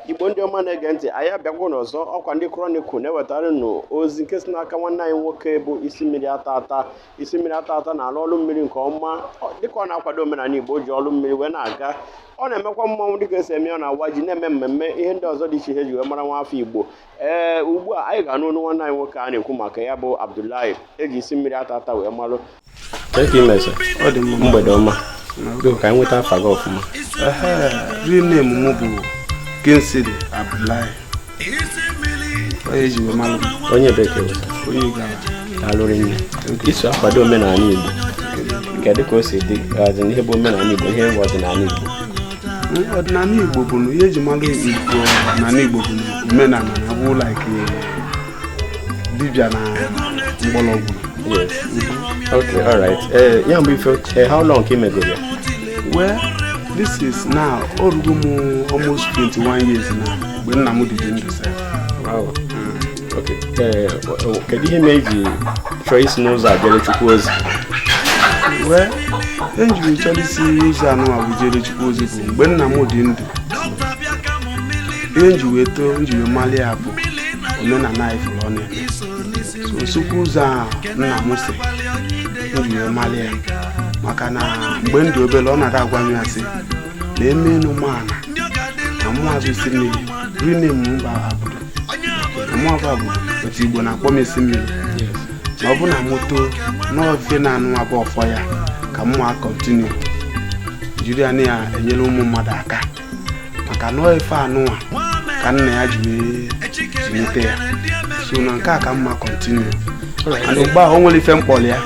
igbo ndị ọma na-ege ntị anyị abịagwo n'ọzọ ọkwa ndị Chronicle na-ewetara nụ ozi nke si n'aka nwanne anyị nwoke bụ isi mmiri ata ata isi mmiri ata ata na-alụ ọrụ mmiri nke ọma dịka ọ na-akwado omenala igbo ji ọrụ mmiri wee na-aga ọ na-emekwa mmanwụ dịka esi eme ọ na-awa ji na-eme mmemme ihe ndị ọzọ dị iche iche eji wee mara nwa afọ igbo ee ugbu a anyị ga-anụ ọnụ nwanne anyị nwoke a na-ekwu maka ya bụ Abdullahi eji isi mmiri ata ata wee malụ mgbede ọma ka anyị nweta afa gị ọfụma real name m bụ Kingsley Abdullahi onye eji wee malụ onye bekee onye Igbo alụrụ nne iso akwado omenala Igbo kedu ka o si dị ihe bụ omenala Igbo ihe bụ ọdịnala Igbo ọdịnala igbo bụ na ihe eji mara igbo ọdịnala igbo bụ na omenala na abụ like dibia na mgbọrọgwụ Yes. Okay, all right. Eh, ya mgbe ife eh, how long ka ị megoro ya? well this is now orugo m almost 21 years now mgbe nna m dị dị ndụ sef Wow. Eh, kedu ihe mere iji chọọ isi n'ụzọ a jere chukwu ozi well ihe m ji wee chọọ isi ụzọ anụwa bụ jere chukwu ozi bụ mgbe nna m dị ndụ ihe m ji wee too m ji wee malụ ya bụ omenala anyị fụrụ ọnụ ya sokwu ụzọ a nna m si m ji wee malụ ya maka na mgbe m dị obere ọ na-ada agwa m ya sị na eme enu m ala na mụ a bụ isi mmiri rinne m mba abụ mụọba bụ otu igbo na-akpọ m isi mmiri na ọ bụ na m too na ife anụwa bụ ọfọ ya ka m ma continue jiri ya na ya enyere ụmụ mmadụ aka maka na ife anụwa ka nna ya ji wee zụlite ya so na nke a ka m ma continue and mgbe ahụ o nwere ife m kpọrọ ya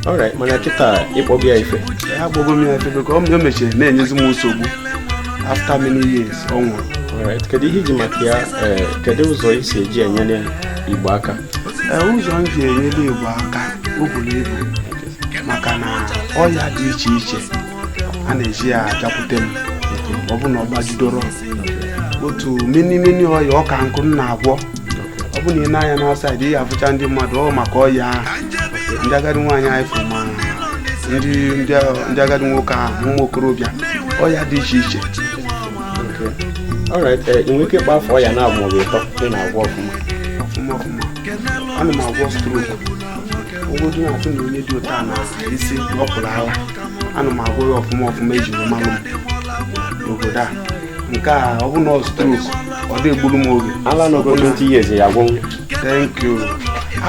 Alright, mana kịta ị kpọgo ya ife ya akpọgo m ya ife because o mechiri na-enyezi m nsogbu after many years ọ nwụrụ Alright, kedu ihe iji maka ya ee, kedu ụzọ i si eji enyere igbo aka Ee, ụzọ m ji enyere igbo aka o buru ibu maka na ọya dị iche iche a na-eji ya abịakwute m ọ bụ na ọ gbajidoro otu many many ọya ọka nkụ m na-agwọ ọ bụ na ị na-anya n'outside ị ga-afụcha ndị mmadụ ọ maka ọya ahụ ndị agadi nwaanyị anyị fụ ma ndị ndị agadi nwoke ahụ ụmụ okorobịa ọya dị iche iche Alright eh, ị nwere ike ịkpọ afa ọya naabọ maọbụ ịtọ ị na-agwọ ọfụma ọfụma ọfụma ana m agwọ stroke ọ bụgodu na a fụ na onye dị ụta na isi ọ pụrụ ala ana m agwọ ya ọfụma ọfụma eji wee malụ m n'obodo a nke a ọ bụ na ọ stroke ọ da egburu m oge ala nọgoro 20 years ya agwọnwu thank you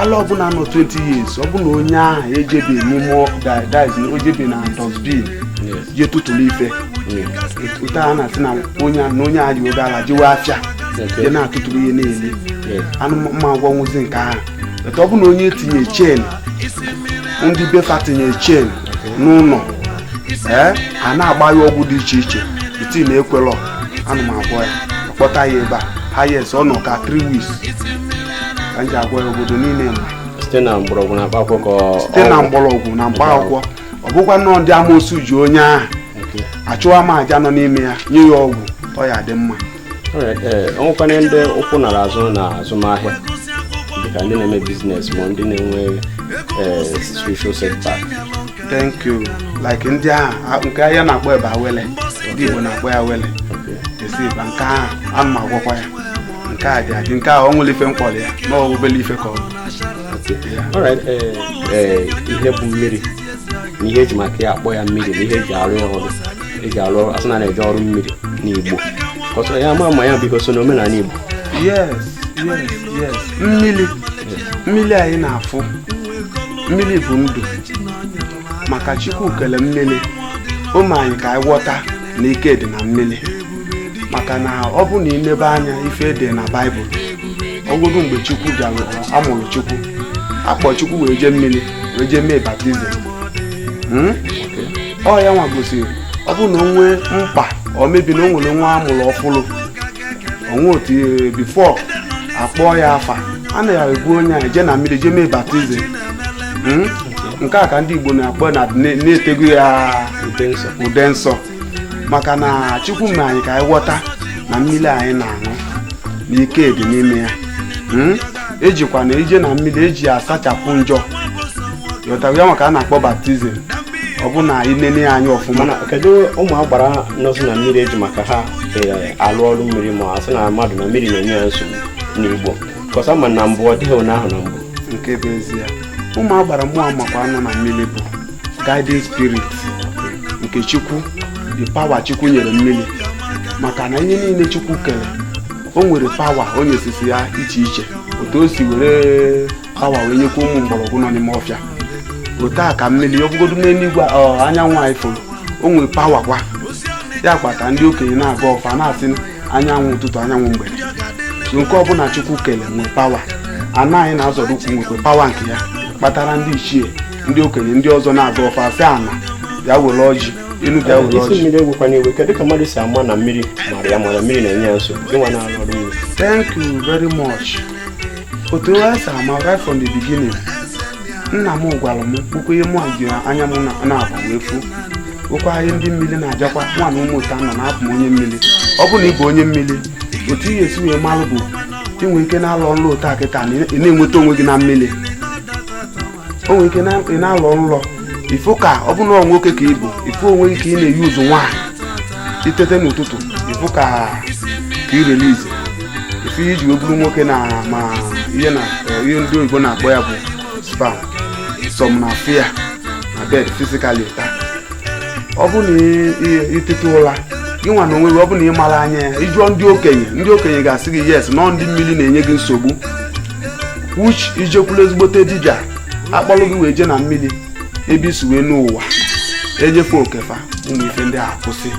ala ọbụla nọ 20 years ọ bụ na onye ahụ ejebi n'ime ọkụ da- dive na o jebi na dustbin je tụtụrụ ife taa a na-asị na onye a- na onye a ji oge ala jewe afịa Okay. je na-atụtụrụ ihe na-eli Yeah. ana m agwọnwuzi nke ahụ but ọ bụ na onye tinye chain ndị be fa tinye chain n'ụlọ ee a na-agba ya ọgwụ dị iche iche iti na ekwelọ ana m agwọ ya akpọta ya ebe a highest ọ nọ ka 3 weeks ka m ji agwọ ya obodo niile ma site na mgbọrọgwụ na mkpaakwụkwọ ka ọ- site na ọgwụ. mgbọrọgwụ na mkpa akwụkwọ ọ bụkwanụ ndị amoosu ji onye ahụ achụwa m aja nọ n'ime ya nye ya ọgwụ ọ ya dị mma o nwekwanụ ndị ụkwụ nara azụ na azụmahịa dịka ndị na-eme business ma ndị na-enwe spiritual setback thank you like ndị ahụ nke ahịa na-akpọ ebe awele ndị Igbo na-akpọ ya awele esi ba nke ahụ ana m agwọkwa ya nke a dị adị nke a ọ nwere ife m kpọrọ ya na obele ife ka ọ ihe bụ mmiri na ihe eji maka ya akpọ ya mmiri na ihe eji arụ ya ọrụ eji arụ ọrụ asị na na-eje ọrụ mmiri n'Igbo ọsọ ya ama ma ya biko so n'omenala Igbo yes yes yes mmiri mmiri anyị na-afụ mmiri bụ ndụ maka Chukwu kele mmiri o mee anyị ka anyị ghọta na ike dị na mmiri maka na ọ bụ na i lebe anya ife dị na baịbụl ọ bụgodu mgbe Chukwu bịara amụrụ Chukwu akpọ Chukwu wee jee mmiri wee jee mee baptizim Hmm? ọ ya nwa gosiri ọ bụrụ na o nwee mkpa or maybe na o nwere nwa amụrụ ọfụrụ o nwe otu ihe before akpọọ ya afa a na ya ebu onye ahụ jee na mmiri jee mee baptizim Mm? nke a ka ndị igbo na-akpọ na na- na-etego ya Ude nsọ. ude nsọ maka na chukwu mere anyị ka anyị ghọta na mmiri anyị na-aṅụ na ike dị n'ime ya Mm? ejikwa na ije na mmiri eji asachapụ njọ ghọtara ya maka a na-akpọ baptizim ọ bụ na i nene ya anya ọfụma mana kedu ụmụ agbara nọzi na mmiri eji maka ha eh, alụ ọrụ mmiri ma asị na mmadụ na mmiri na-enye ya nsogbu n'igbo kọsa ma na mbụ ọ dịghị onye ahụ na mbụ nke bụ ezie ụmụ agbara mmụọ makwa anọ na mmiri bụ guiding spirit nke chukwu the power chukwu nyere mmiri maka na ihe niile chukwu kere o nwere power o nyesịsị ya iche iche otu o si were awa wee nyekwa ụmụ mgbọrọgwụ nọ n'ime ọfịa otu a ka mmiri ọ bụgodu n'eluigwe ọ, anyanwụ anyị fụrụ o nwere power kwa ya kpata ndị okenye na-agọ ọfọ na-asị anyanwụ ụtụtụ anyanwụ mgbede so nke ọbụla chukwu kele nwee power ana anyị na-azọrọ ụkwụ nwekwe power nke ya kpatara ndị ichie ndị okenye ndị ọzọ na-agọ ọfọ asị ana bịa were ọjị enu bịa were isi ọjị mmiri ewekwana iwe kedu ka mmadụ si ama na mmiri mara ya mana mmiri na-enye ya nsogbu gịnwa na-arụ ọrụ mmiri thank you very much otu esi ama right from the beginning nna m gwara m okwu ihe mụ ji anya m naabọ wee fu ọ kwa anyị ndị mmiri na-ajakwa nwa na ụmụ ụta nọ na-abụ m onye mmiri ọ bụ na ị bụ onye mmiri otu ihe esi wee malụ bụ i nwe ike na-alọ nlọ otu a kịta na ị na-enweta onwe gị na mmiri o nwere ike na- ị na-alọ nlọ ị fụ ka ọ bụ na ọ nwoke ka ị bụ ị fụ onwe gị ka ị na-eyuzu nwaanyị i tete n'ụtụtụ ị fụ ka ka ị release ife i ji wee bụrụ nwoke na ma ihe na ihe ndị oyibo na-akpọ ya bụ sperm some na-appear na bed physically otu a ọ bụ na ị- ị- i tete ụra gị nwa na onwe gị ọ bụ na ị marọ anya ya ị jụọ ndị okenye ndị okenye ga-asị gị yes na ọ ndị mmiri na-enye gị nsogbu which i jekwulu ezigbote dibịa a kpọrọ gị wee je na mmiri ebe i si wee nọ ụwa enye fa oke fa ụmụ ife ndị a akwụsị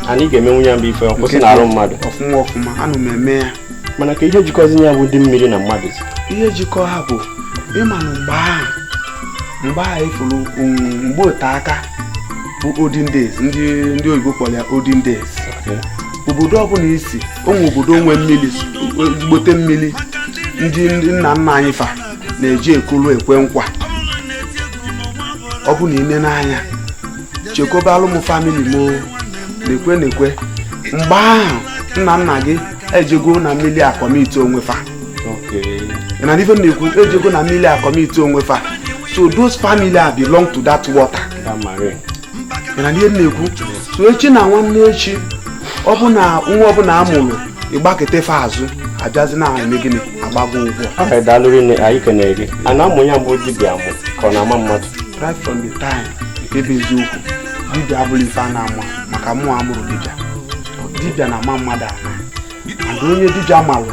anyị ga-emenwu ya bụ ife ọ kwụsị n'arụ mmadụ ọfụma ọfụma ana m eme ya mana kee ihe jikọzi ya bụ ndị mmiri na mmadụ si ihe jikọ ha bụ ị ma na mgbe ahụ mgbe ahụ i furu mgbe ote aka bụ olden days ndị ndị oyibo kpọrọ ya olden days obodo ọbụla i si o nwe obodo o nwe mmiri ezigbote mmiri ndị ndị nna nna anyị fa na-ejekwulu ekwe nkwa ọ bụ na i nene anya chekwabalụ mụ family m o, na-ekwe na-ekwe mgbe ahụ nna nna gị ejego na mmiri a-commit onwe fa ị nụ ife m na-ekwu ejego na mmiri a-commit onwe fa so those family are belong to that water na ihe na-ekwu so echi na nwanne echi ọ bụ na nwa ọbụla a mụrụ ị gbakute fa azụ abịazi na-eme gịnị agba gị ụgwọ aha daalụ rinne anyị kenere gị a na-amụ ya bụ dibịa amụ ka ọ na-ama mmadụ right from the time nke bụ eziokwu dibịa abụrọ ife a na-amụ maka mụwa amụrọ dibịa dibịa na-ama mmadụ ama and onye dibịa malụ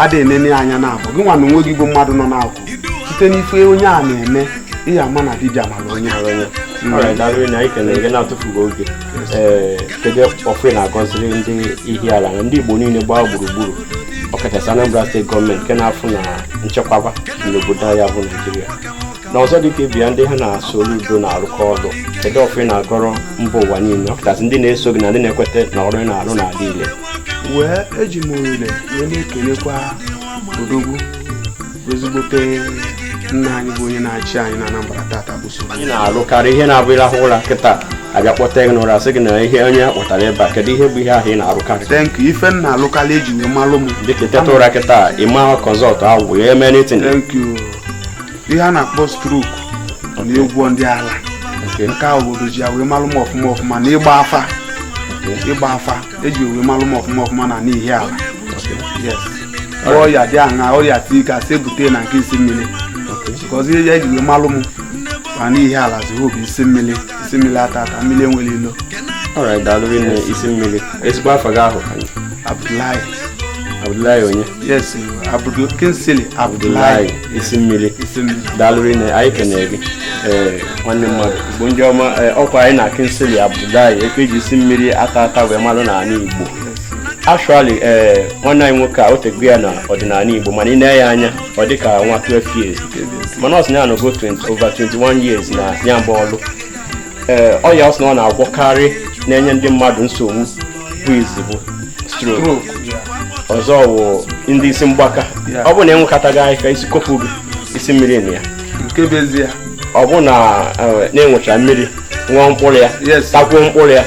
adịghị enene anya naabọ gị nwa na onwe gị bụ mmadụ nọ n'akụkụ site n'ife onye a na-eme ị ya-ama na dibịa mara onye na-atụfughị oge ee kedu ọfọ ị na-agọziri ndị Ihiala na ndị Igbo niile gbaa gburugburu ọkachasị Anambra steeti gọọmenti nke na-afụ na nchekwaba n'obodo ya bụ Naijiria na ọzọ dịka e bịa ndị ha na Soludo na-arụkọ ọrụ kedu ọfọ ị na-agọrọ mba ụwa niile ọkachasị ndị na-eso gị na ndị na-ekweta na ọrụ ị na-arụ na-adị ile wee eji m ohere wee na-ekelekwa odogwu ezigbote nna anyị bụ onye na-achị anyị na Anambra tata bụ so anyị na-arụkarị ihe na-abụ ị rahụ ụra kịta a bịa kpọte gị n'ụra sị gị na ihe onye kpọtara ebe a kedu ihe bụ ihe ahụ ị na-arụkarị thank you ife m na-alụkarị eji wee malụ m dịka teta ụra kịta ị ma consult agwụ ya eme anything thank you ihe a na-akpọ stroke na-agwọ ndị ala Okay. nke a obodo ji ya wee malụ m ọfụma ọfụma na ịgba afa ịgba afa eji wee malụ m ọfụma ọfụma na n'Ihiala yes ọrịa dị aṅa ọrịa tii ka si ebute na nke isi mmiri because ihe ya eji wee malụ m ma n'Ihiala zụrụ bụ isi mmiri isi mmiri ata ata mmiri enwerọ ilo Alright, daalụ rinne isi mmiri ezigbo afa gị ahụ Abdullahi Abdullahi onye yes Abdul Kingsley Abdullahi Abdullahi. isi mmiri daalụ rinne anyị kenere gị ee nwanne mmadụ Igbo ndị ọma ee, ọkwa anyị na Kingsley Abdullahi nke e ji isi mmiri ata ata wee malụ n'ala igbo actually ee nwanne anyị nwoke a o tego ya na ọdịnala igbo mana i nee ya anya ọ dị ka nwa 12 years mana ọ sị na ya nọgo 20 over 21 years na ya bụ ọlụ ee ọya ọ sị na ọ na-agwọkarị na-enye ndị mmadụ nsogbu bụ izizi bụ stroke Stroke, yeah. ọzọ wụ ndị isi mgbaka Yeah. ọ bụrụ na enwekọtaghị anyị ka isi kopụ gị isi mmiri na ya nke bụ ezie ọ bụrụ na eh, na-enwecha mmiri ṅụọ mkpụrụ ya Yes. takwuo mkpụrụ ya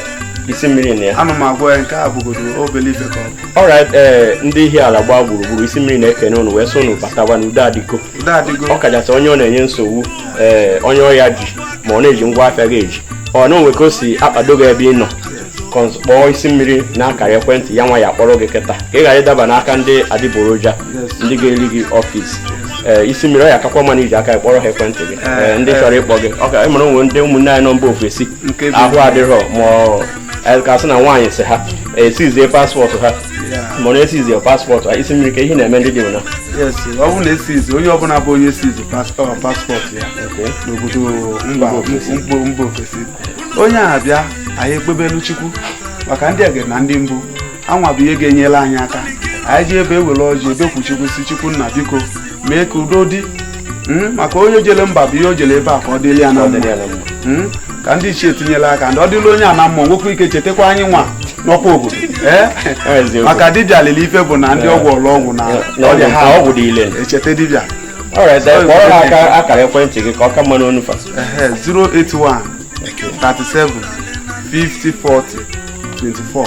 isi mmiri na ya ana m agwọ ya nke a bụgodo obele ife ka ọ bụ alright ee ndị Ihiala gbaa gburugburu isi mmiri na-ekene ụnụ wee sị ụnụ batawa n'udo adịgo ọ kachasị onye ọ na-enye nsogbu ee eh, onye ọya ji ma ọ na-eji ngwa afịa gị eji ọ na o nwe ka o si akpado gị ebe ị nọ kpọọ isi mmiri na akara ekwentị ya nwa ya-akpọrọ gị kịta ka ị ghara ịdaba n'aka ndị adịgboroja ndị ga-eri gị office ee eh, isi mmiri ọ ya-akakwa mma na iji aka kpọrọ ha ekwentị gị eh, ndị chọrọ ịkpọ gị ọ kwa ị mara o nwe ndị ụmụnne anyị nọ mba ofesi ahụ adịrọ ma anyị ka sị na nwaanyị si ha esizie passport ha ma ọ na esizie passport ha isi mmiri ka ihe na-eme ndị dị na yes ọ bụrụ na esizi onye ọbụla bụ onye esizi pas- passport ya n'obodo mba mba mba ofesi onye a bịa anyị ekpebelu chukwu maka ndị ege na ndị mbụ ha nwa bụ ihe ga-enyere anyị aka anyị jebe ewere ọjị bekuo Chukwu sị Chukwu nna biko mee ka udo dị Mm, maka onye jele mba bụ ihe o jele ebe a ka ọ dịrị ya na mma Mm, ka ndị ichie tinyere aka ndị ọ dịla onye a na mma o nwekwa ike chetakwa anyị nwa nọkwa obodo Eh? Eziokwu. maka dibịa lele ife bụ na ndị ọ gwọlụ ọgwụ na ọrịa ha ọgwụ dị ile echeta dibịa alright kpọọrọ ha aka akara ekwentị gị ka ọ ka mma n'ọnụ fa Ehe, 081 37 50 40 24